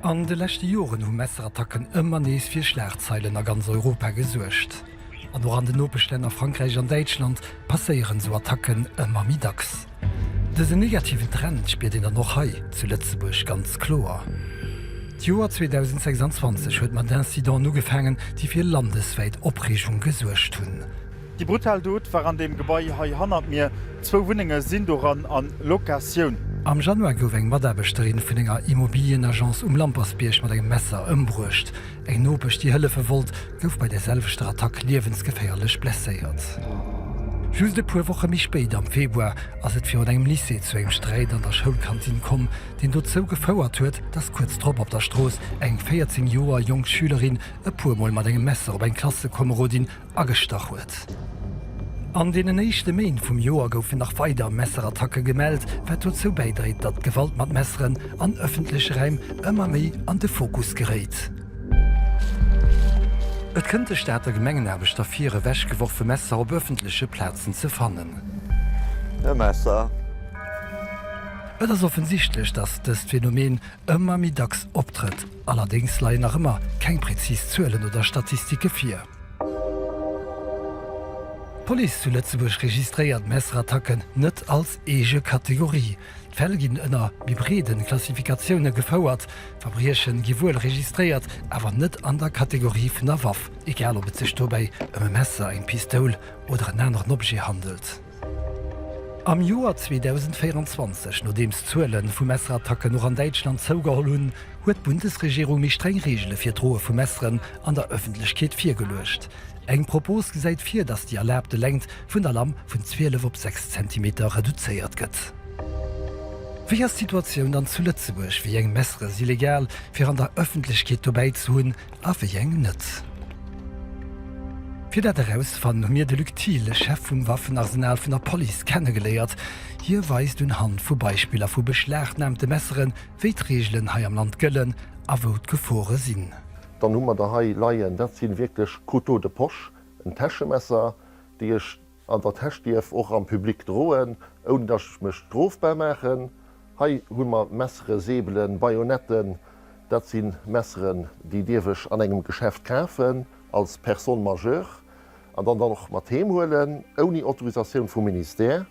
An de leschte Joren hu Messerattacken ëmmer nees fir Schlagzeilen a ganz Europa gesuergt. An och an den Nopeschlänner Frankräich an Däitschland passéieren esou Attacken ëmmer méi dacks. Dësen negativen Trend spiert een dann och hei zu Lëtzebuerg ganz kloer. D'Joer 2026 huet mat Incidenten ugefaangen, déi fir landeswäit Opreegung gesuergt hunn. Déi brutal Dot war an deem Gebai hei hannert mir. Zwou Wunnenge sinn doran a Locatioun. Am Januar gouf eng Mataarbechterin vun enger Immobilienagence um Lampersbierg mat engem Messer ëmbruecht. Eng Nopesch, déi hëllefe wollt, gouf bei der selwechter Attack liewensgeféierlech blesséiert. Just e puer Woche méi spéit, am Februar, ass et virun engem Lycée zu engem Sträit an der Schoulkantinn komm, deen dozou gefouert huet, dass kuerz drop op der Strooss eng 14 Joer jonk Schülerin e puer Mol mat engem Messer op eng Klassekomerodin agestach huet. An deenen éischte Méint vum Joer goufen nach weider Messerattacke gemellt, wat dozou bäidréit, datt d'Gewalt mat Messeren an ëffentleche Räim ëmmer méi an de Fokus geréit. Et kënnt de Stater Gemengenaarbechter vir, ewechgeworfe Messer op ëffentleche Plazen ze fannen. E Messer! Et ass offensichtlech, datt dëst Phänomen ëmmer méi dacks optrëtt. Allerdéngs leien nach ëmmer keng präzis Zuelen oder Statistike vir. D'Police zu Lëtzebuerg registréiert Messerattacken net als eege Kategorie. D'Fäll ginn ënner méi breede Klassifikatioune gefouert. Verbrieche gi wuel registréiert, awer net an der Kategorie vun der Waff, egal ob et sech dobäi ëm e Messer, eng Pistoul oder en aneren Objet handelt. Am Joer 2024, nodeems d'Zuele vu Messerattacken och an Däitschland zougeholl hunn, huet d'Bundesregierung méi streng Reegele fir d'Droe vu Messeren an der Ëffentlechkeet virgeluecht. Eng Propos gesäit vir, datt déi erlaabte Längt vun der Lamm vun 12 op 6 Zentimeter reduzéiert gëtt. Wéi ass d'Situatioun dann zu Lëtzebuerg? Wéi eng Messere si legal, fir an der Ëffentlechkeet dobäi ze hunn? a wéi eng net. Fir dat erausfannen, hu mir de Luc Thiel, Chef vum Waffenarsenal vun der Police, kennegeléiert. Hie weist un Hand vu Beispiller vu beschlagnahmte Messeren, wéi d'Reegelen hei am Land gëllen a wou d'Gefore sinn. Dann hu mer der hei leien, dat si wierklech Couteaux de poche, en Täschemesser, déi ech An der Täsch dierf och am Public droen, ouni dass ech mech strofbar maachen. Hei hu mer Messere, Säbelen, Bajonetten. Dat si Messeren, déi dierf ech an engem Geschäft kafen als Personne majeure an dann dann och mat heem huelen, ouni Autorisatioun vum Ministère.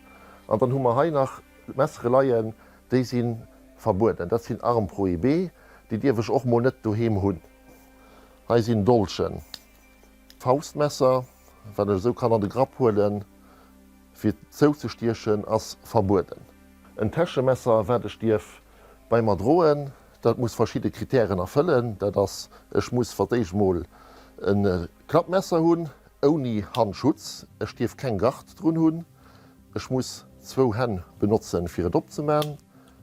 An dann hu mer hei nach Messere leien, déi si verbueden. Dat sinn Armes prohibées, déi dierf ech och mol net doheem hunn. Hei sinn Dolchen. Faustmesser, wat ech esou kann an de Grapp huelen, fir zouzestiechen, ass verbueden. En Täschemesser, wat ech dierf bei mer droen, dat muss verschidde Kritären erfëllen. Dat ass, Ech muss fir d'éischt emol e Klappmesser hunn, ouni Handschutz. Ech dierf keng Gard drun hunn. Ech muss zwou Hänn benotzen, fir et opzeman.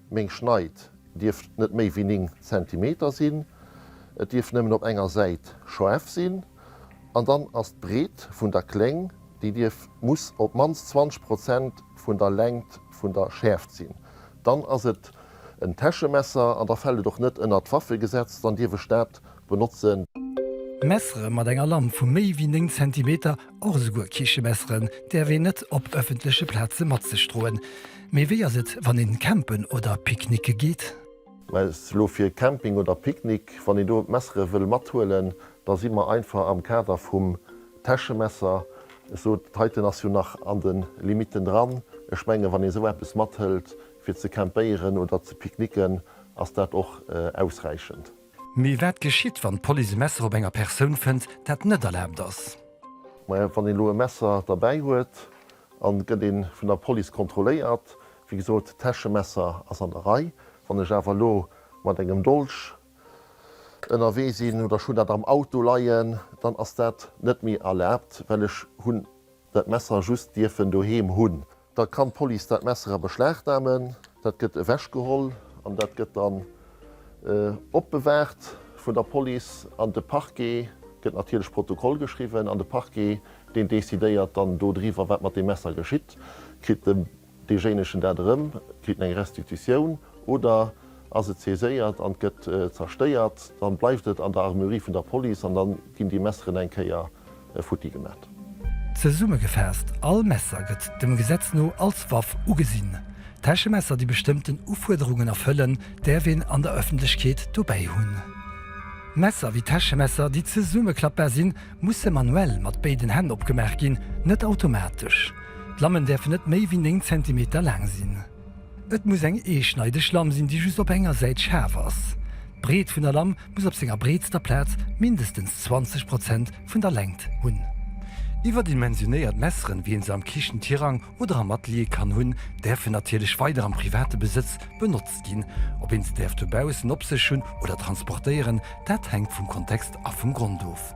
Meng Schneid dierf net méi wéi 9 Zentimeter sinn, et dierf nëmmen op enger Säit schaarf sinn an dann ass d'Breet vun der Kléng, déi dierf, muss op d'mannst 20 Prozent vun der Längt vun der Schäerft sinn. Dann ass et en Täschemesser an da fält et och net ënnert d'Waffegesetz, dann dierf ech dat benotzen. Messere mat enger Lamp vu méi wéi 9 Zentimeter, och esouguer Kichemesseren, däerf een net op ëffentleche Plaze mat sech droen. Mee wéi ass et, wann een campen oder picknicke geet? Mä just elo fir Camping oder Picknick. Wann een do d'Messere wëll mathuelen, da si mer einfach am Kader vum Täschemesser, ech sot et heiten, ass jo nach an de Limitten dran. Ech menge wann ee esou eppes mathëlt fir ze campéieren oder ze picknicken, ass dat och ausräichend. Mee wat geschitt, wann d'Police e Messer op enger Persoun fënnt, dat net erlaabt ass? Majo, wann een elo e Messer derbäi huet an et gëtt ee vun der Police kontrolléiert, wéi gesot, d'Täschemesser ass an der Rei. Wann ech awer elo mat engem Dolch ënnerwee sinn oder ech hunn dat am Auto leien, dann ass dat net méi erlaabt, well ech hunn dat Messer just dierfen doheem hunn. Da kann d'Police dat Messer a Beschlag namen, dat gëtt ewechgeholl an dat gëtt dann opbewaacht vun der Police an de Parquet gëtt natierlech Protokoll geschriwwen an de Parquet deen decidéiert dann do driwwer wat mat deem Messer geschitt. Kritt deejéinegen dat erëm, kritt en eng Restitutioun oder? Ass et saiséiert an gëtt zerstéiert, dann bleift et an der Armuerie vun der Police an dann ginn déi Messeren eng Kéier futti gemat. Zesummegefaasst, All Messer gëtt dem Gesetz no als Waff ugesinn. Täschemesser déi bestëmmten Ufuerderungen erfëllen, däerf een an der Ëffentlechkeet dobäi hunn. Messer wéi Täschemesser déi zesummeklappbar sinn, musse manuell mat béiden Hänn opgemaach ginn, net automatesch. D'Lammen däerfen net méi wéi 9 Zentimeter laang sinn. Et muss eng eeschneideg Lamm sinn, déi just op enger Säit schaarf ass. D'Breet vun der Lamm muss op senger breetster Plaz mindestens 20 Prozent vun der Längt hunn. Iwwerdimensionéiert Messeren, wéi een se am Kichen-Tirang oder am Atelier kann hunn, däerfen natierlech weider am private Besëtz benotzt ginn. Ob een se däerf dobaussen op sech hunn oder transportéieren, dat hänkt vum Kontext a vum Grond of.